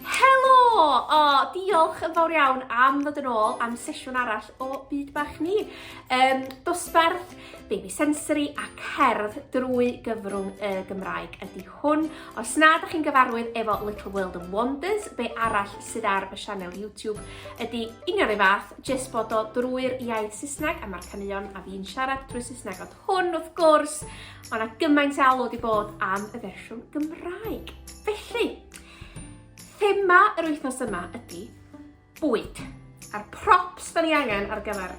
Helo! O, diolch yn fawr iawn am ddod yn ôl am sesiwn arall o Byd Bach Ni. Um, dosbarth, baby sensory a cerdd drwy gyfrwng y Gymraeg ydy hwn. Os na, da chi'n gyfarwydd efo Little World of Wonders, be arall sydd ar y sianel YouTube ydy union ei fath, jyst bod o drwy'r iaith Saesneg a mae'r caneuon a fi'n siarad drwy Saesneg ond hwn wrth gwrs, ond a gymaint alw wedi bod am y fersiwn Gymraeg. Felly, Thema yr wythnos yma ydy bwyd. A'r props da ni angen ar gyfer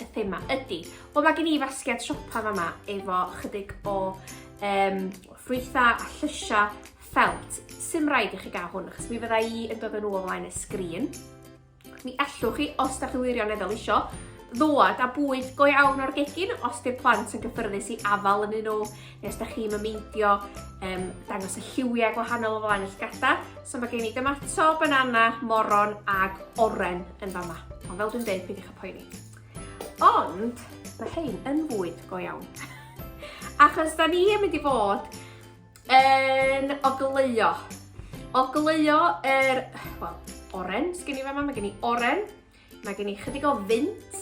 y thema ydy. Wel, mae gen i fasgiad siopa fama efo chydig o um, ffrwytha a llysia ffelt. Sym rhaid i chi gael hwn, achos mi fydda i yn dod yn ôl flaen y sgrin. Mi ellwch chi, os da chi wirioneddol isio, ddod a bwyd go iawn o'r gegin os di'r plant yn gyffyrddus i afal yn un o, neu os da chi'n mymeidio um, dangos y lliwiau gwahanol o flaen y llgada. So mae gen i dymato, banana, moron ag oren yn fama. Ond fel dwi'n dweud, peidiwch â poeni. Ond mae hein yn fwyd go iawn. Achos da ni yn mynd i fod Yn ogleuo. Ogleuo yr, wel, oren, sgen i fe yma, mae gen i oren, mae gen i chydig o fynt,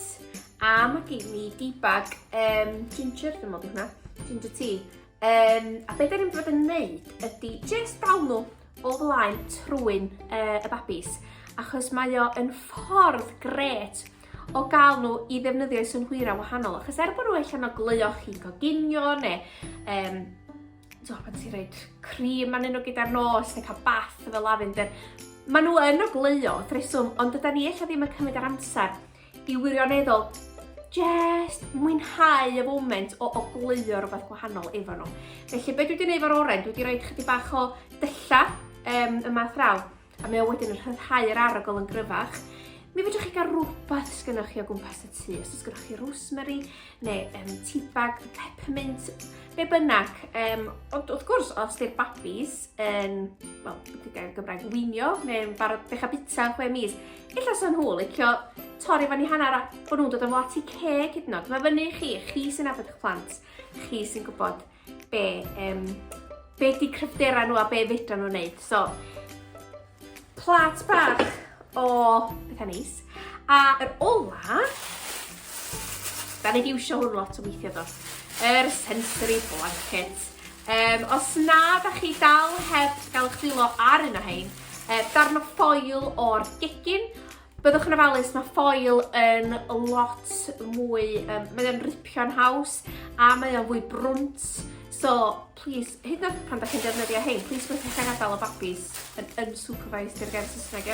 a mae gen i dibag um, ginger, dwi'n meddwl hwnna, ginger tea. Um, a beth dyn ni'n fod yn neud ydy just dal nhw o flaen trwy'n uh, y babis, achos mae o yn ffordd gret o gael nhw i ddefnyddio i synhwyra wahanol, achos er bod nhw eich annog gleo chi'n coginio neu um, so, pan ti'n rhaid cream man nhw gyda'r nos neu cael bath efo lavender, maen nhw yn o gleo, threswm, ond dyda ni eich ddim yn cymryd ar amser i wirioneddol just mwynhau y foment o, o gleo rhywbeth gwahanol efo nhw. Felly, beth dwi wedi gwneud fo'r oren, dwi wedi rhoi chydig bach o dylla um, y math raw. a mae o wedyn yn rhyddhau yr arogl yn gryfach, mi fedrwch chi gael rhywbeth sgynnoch chi o gwmpas y tŷ. Os sgynnoch chi rosemary, neu um, tea bag, peppermint, be bynnag. Um, ond wrth gwrs, os di'r babis yn, wel, wedi gael Gymraeg wynio, neu'n barod dechrau bita chwe mis, illa sa'n nhw licio torri fan i hanner a bod nhw'n dod yn fo ati ceg hyd yn oed. Mae fyny chi, chi sy'n abod eich plant, chi sy'n gwybod be, um, be di cryfderau nhw a be fedra nhw wneud. So, plat bach o bethau neis. A yr ola, da ni di iwsio hwn lot o weithio do, yr sensory blanket. Um, os na, da chi dal heb gael eich dwylo ar un o hyn, uh, darn o ffoil o'r gegin, Byddwch yn ofalus, mae ffoil yn lot mwy, um, mae o'n ripio'n haws a mae o'n fwy brwnt. So, please, hyd yn pan da chi'n defnyddio hyn, please mae'n cael gadael o babis yn unsupervised i'r gair Saesneg.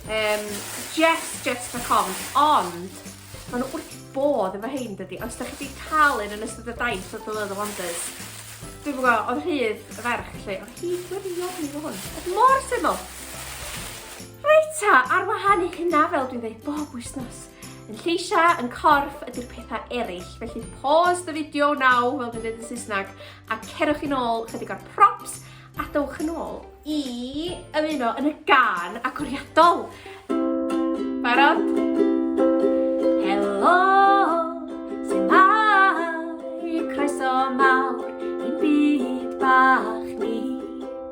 Um, Jess, Jess for com, ond Mae nhw wrth bodd efo hyn dydy. Os da chi wedi cael un yn ystod y daith o Dylan the Wonders, dwi'n gwybod, oedd rhydd y ferch lle, oedd hi gwirion i fod hwn. Oedd mor syml. Reit ta, ar wahân i hynna, fel dwi'n dweud bob wythnos, yn lleisiau, yn corff ydy'r pethau eraill. Felly pause the video now, fel dwi'n dweud yn Saesneg, a cerwch i'n ôl chydig o'r props a dowch yn ôl i ymuno yn y gan agoriadol. Barod? Helo! Croeso mawr i'n byd bach ni.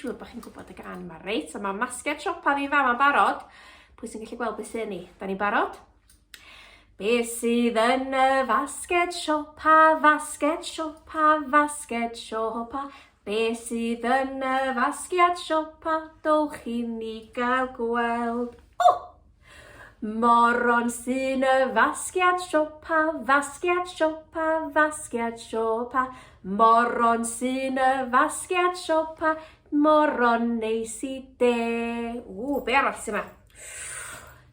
siŵr bod chi'n gwybod y gan yma, reit? So mae masgiad siopa fi'n fama barod. Pwy sy'n gallu gweld beth sy'n ni? Da ni'n barod? Be sydd yn y fasged siopa, fasged siopa, fasged siopa? Be sydd yn y fasgiad siopa, dowch i ni gael gweld? O! Oh! Moron sy'n y fasgiad siopa, fasgiad siopa, fasgiad siopa. Moron sy'n y fasgiad siopa, moron neis i de. Ww, be arall sy'n yma?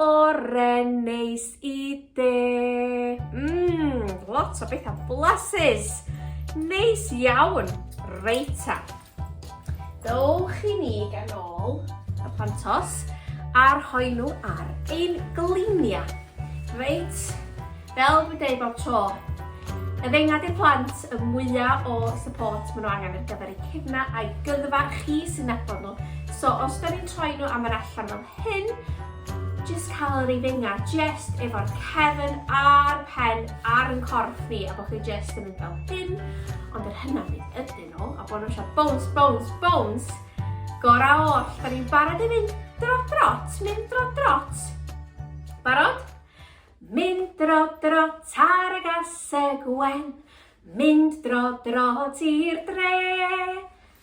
Oren neis i de. Mmm, lot o bethau blasus. Neis iawn. Reita. Dowch i ni ganol y pantos a rhoi nhw ar ein gliniau. Reit, fel dwi'n dweud bob tro, y ddengad i'r plant y mwyaf o support maen nhw angen ar gyfer eu cefna a'i gyddfa chi sy'n nabod nhw. So os da ni'n troi nhw am yr allan fel Hyn, jyst cael yr ifenga jyst efo'r cefn a'r pen ar yn corff ni a bod chi jyst yn mynd fel hyn, ond yr hynaf ni ydyn nhw a bod nhw eisiau bones, bones, bones, gorau oll, da ni'n barod i fynd dro drot, mynd dro drot. Barod? Mynd dro drot ar y gaseg wen, mynd dro drot i'r dre,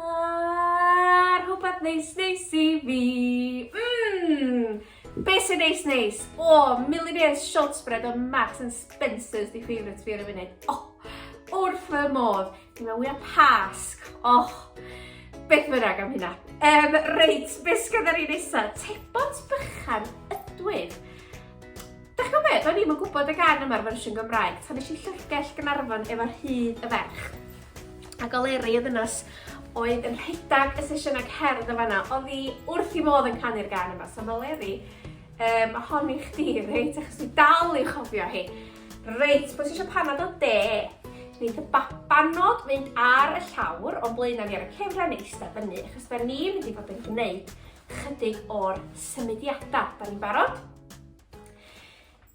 A'r rhywbeth neis neis i fi. Mmm! Be sy'n neis neis? O, oh, Millionaire's Shorts Bread o Marks and Spencer's di favourite fi ar y funud. Oh, wrth fy modd. Dwi'n meddwl wyau pasg. Oh, beth fynnag am hynna. Um, reit, beth sgan ar ei nesaf? Tebont bychan ydwyn. Da chi'n meddwl, do'n i'm yn gwybod y gan yma'r fersiwn Gymraeg, tan eisiau llyfrgell Gynarfon efo'r hyd y ferch. a goleri y ddynes oedd yn rhedeg y sesiynau cerdd yn fanna, oedd hi wrth i modd yn canu'r gan yma. So mae Leri, um, hon i chdi, reit, achos dwi dal i chofio hi. Reit, pwy sy'n eisiau panad o de? Neith y babanod fynd ar y llawr o'n blaenau ni ar y cefra neu eistedd fyny, achos da ni wedi bod yn gwneud chydig o'r symudiadau. Da ni'n barod?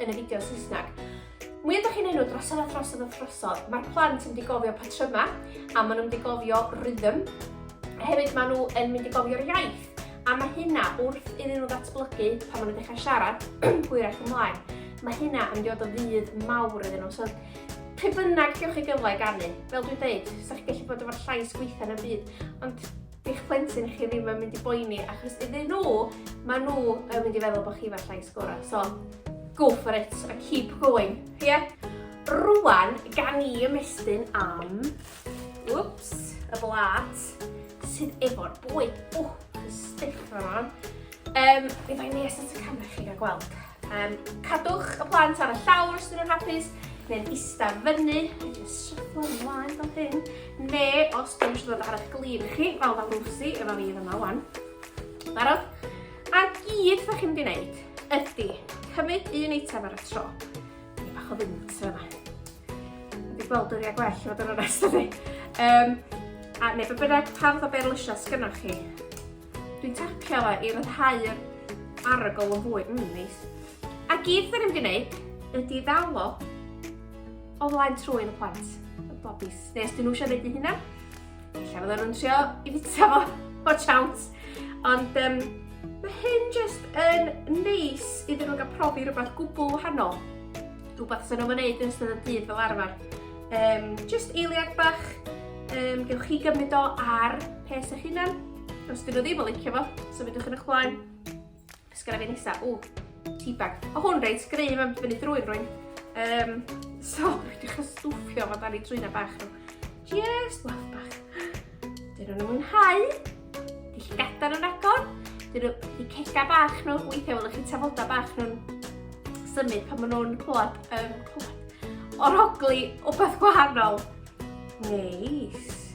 yn y fideo Saesneg. Mwy ydych chi'n enw drosodd a throsodd a throsodd, mae'r plant yn mynd i gofio patryma a maen nhw'n mynd i gofio rhythm. Hefyd maen nhw yn mynd i gofio'r iaith a mae hynna wrth iddyn nhw ddatblygu pan maen nhw'n dechrau siarad hwyrach ymlaen. Mae hynna yn mynd o ddydd mawr iddyn nhw. So, pe bynnag diolch i gyfle i ganu, fel dwi'n dweud, sa'ch gallu bod efo'r llais gweitha yn y byd, ond di'ch plentyn chi ddim yn mynd i boeni achos iddyn nhw, maen nhw yn mynd i feddwl bod chi fel llais gorau. So, go for it a keep going. Ie? Yeah? Rwan, gan i ymestyn am... Whoops, y blat sydd efo'r bwyd. O, oh, stiff fan o'n. Um, mi fai nes at y camera chi gael gweld. Um, cadwch y plant ar y llawr os dyn nhw'n hapus, neu'n ista fyny, neu'n sryglo ymlaen fel hyn, neu os dyn nhw'n dod ar eich glin chi, fel mae Lucy efo fi yma wan. Barod? A gyd fe chi'n mynd i ydy cymryd un eitem ar y tro. Ni bach o fynt yma. Fi gweld dwi wedi gwell fod yn onest ydy. Um, a neu fe bynnag pan fydda beirlysio sgynnoch chi, Dwi'n tapio fe i ryddhau yr arogl yn fwy. Mmm, neis. A gyd dyn ni'n gwneud ydy ddalo o flaen trwy'n y plant. Y bobis. Neu os dyn nhw eisiau gwneud i hynna, lle fydden nhw'n trio i fita fo o chawnt. Ond um, mae hyn jyst yn neis iddyn nhw'n cael profi rhywbeth gwbl wahanol. Rhywbeth sy'n nhw'n gwneud yn ystod y dydd fel arfer. Um, just eiliad bach, um, gewch chi gymryd o ar pes eich hunan. Os dyn nhw ddim yn licio fo, so fydwch yn eich blaen. Os gyda fi nesa, o, teabag. O hwn reit, greu mae'n fyny drwy'r rwy'n. Um, so, rydych yn stwffio fo dan i trwyna bach nhw. Just waff bach. Dyn nhw'n mwynhau. Dych chi'n gadar yn agor. Dyn nhw, di cega bach nhw. Weithiau welwch chi tafoda bach nhw'n symud pan maen nhw'n clywed, um, clywed, orogli o beth gwahanol. Neis.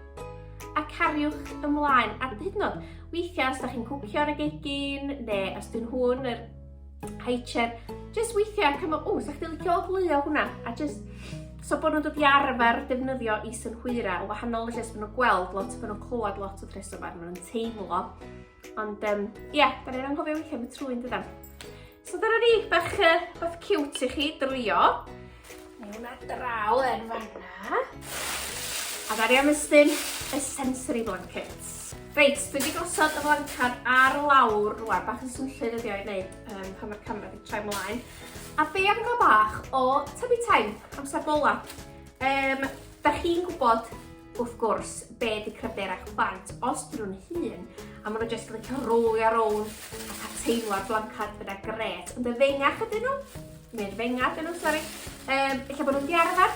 a cariwch ymlaen. A hyd yn oed, weithiau os da chi'n cwcio ar y gegin, neu os dyn hwn yr haicher, just weithiau cymryd, o, sa'ch ti'n licio o hwnna, a just So bod nhw'n dod i arfer defnyddio i synhwyra o wahanol, felly os bod nhw'n gweld lot, bod nhw'n clywed lot o tresor fan nhw'n teimlo Ond, um, ie, yeah, da ni'n anghofio weithio am y trwy yn dydan. So dyna ni, bach, uh, bach cute i chi drwyo. Mae hwnna draw yn fanna. A da ni am ystyn y sensory blankets. Reit, dwi wedi gosod y flancad ar lawr rwan, bach yn swnllyd ydi o'i wneud um, pan mae'r camera wedi troi mlaen. A be am gael bach o tyfu time, amser bola. Um, da chi'n gwybod Wrth gwrs, be di cryfder eich plant os dyn nhw'n hun a maen nhw jyst yn licio rolio rownd a cael teimlo'r blancad gyda gret. Ond y fengach ydyn nhw, neu'r fenga ydyn nhw, sori, um, eich bod nhw'n diarfer.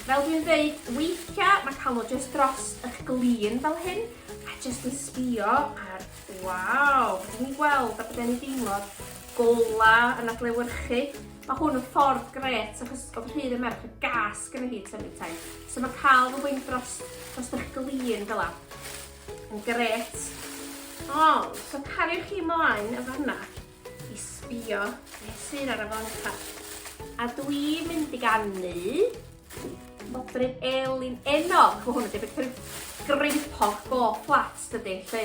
Fel dwi'n dweud, weithiau mae cael nhw jyst dros eich glin fel hyn a jyst yn sbio ar, waw, beth ni'n gweld a beth ni'n deimlo gola yn adlewyrchu. Mae hwn yn ffordd gret achos oedd rhydd y merch y gas gyda hi tyfu taith. So mae cael fy wing dros, dros eich glin fel la. Yn gret. Ond, so cariwch chi mlaen y fanna i sbio beth sydd ar y fanca. A dwi'n mynd i gannu modryb elin enog. Mae hwn yn debyg rhyw greipog go fflat dydy, lle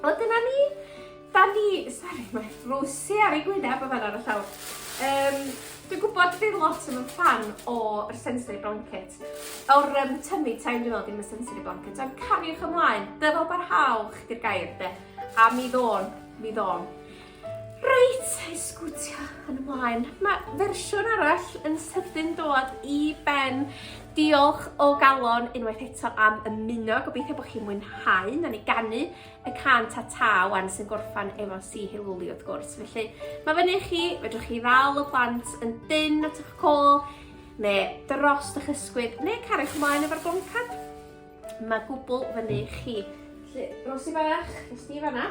O, dyna ni. Da ni... Sori, mae Rosie ar ei gwyneb yn fan ar y llawr. Um, Dwi'n gwybod bydd lot yn fan o'r sensory blanket, o'r um, tummy time dwi'n meddwl, dim y sensory blanket, ond cariwch ymlaen, dyfal barhaol chdi'r gair de, a mi ddôn, mi ddôn. Reit, i sgwtio yn ymlaen. Mae fersiwn arall yn sydyn dod i ben. Diolch o galon unwaith eto am ymuno. Gobeithio bod chi'n mwynhau. Na ni ganu y can ta ta wan sy'n gorffan efo si heilwli wrth gwrs. Felly, mae fyny chi, fedrwch chi ddal y plant yn dyn at eich col, neu dros eich ysgwydd, neu cario chi mlaen efo'r goncad. Mae gwbl fyny chi. Felly, Rosie bach, nes di fanna.